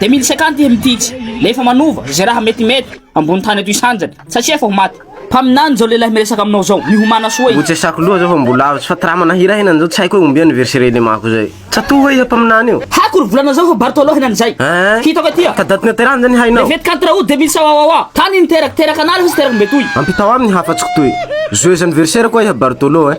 Dia mily sekanty iry mtitsy nefa manova ze raha mety mety ambony tany ato isanjany satria efa ho maty. Mpaminany zao lehilahy miresaka aminao zao mihomana soa e. Mbo tsy asako loha zao fa mbo lavitsy fa tra mana hira hena zao tsy haiko hoe ombia ny verse renemako zay. Tsatoha hoe iza mpaminany io. Haiko ry volana zao fa Bartolo henany zay. Eeh. Hitako aty a. Ka daty niaterany zany hainao. Levety kanto raoul deux mille sawawawa. Tany niteraka, teraka an'ala fa tsy teraka mbe toy. Ampitao aminy hafa tsy kitoy. Joyeux anniversaire koa iha Bartolo eh.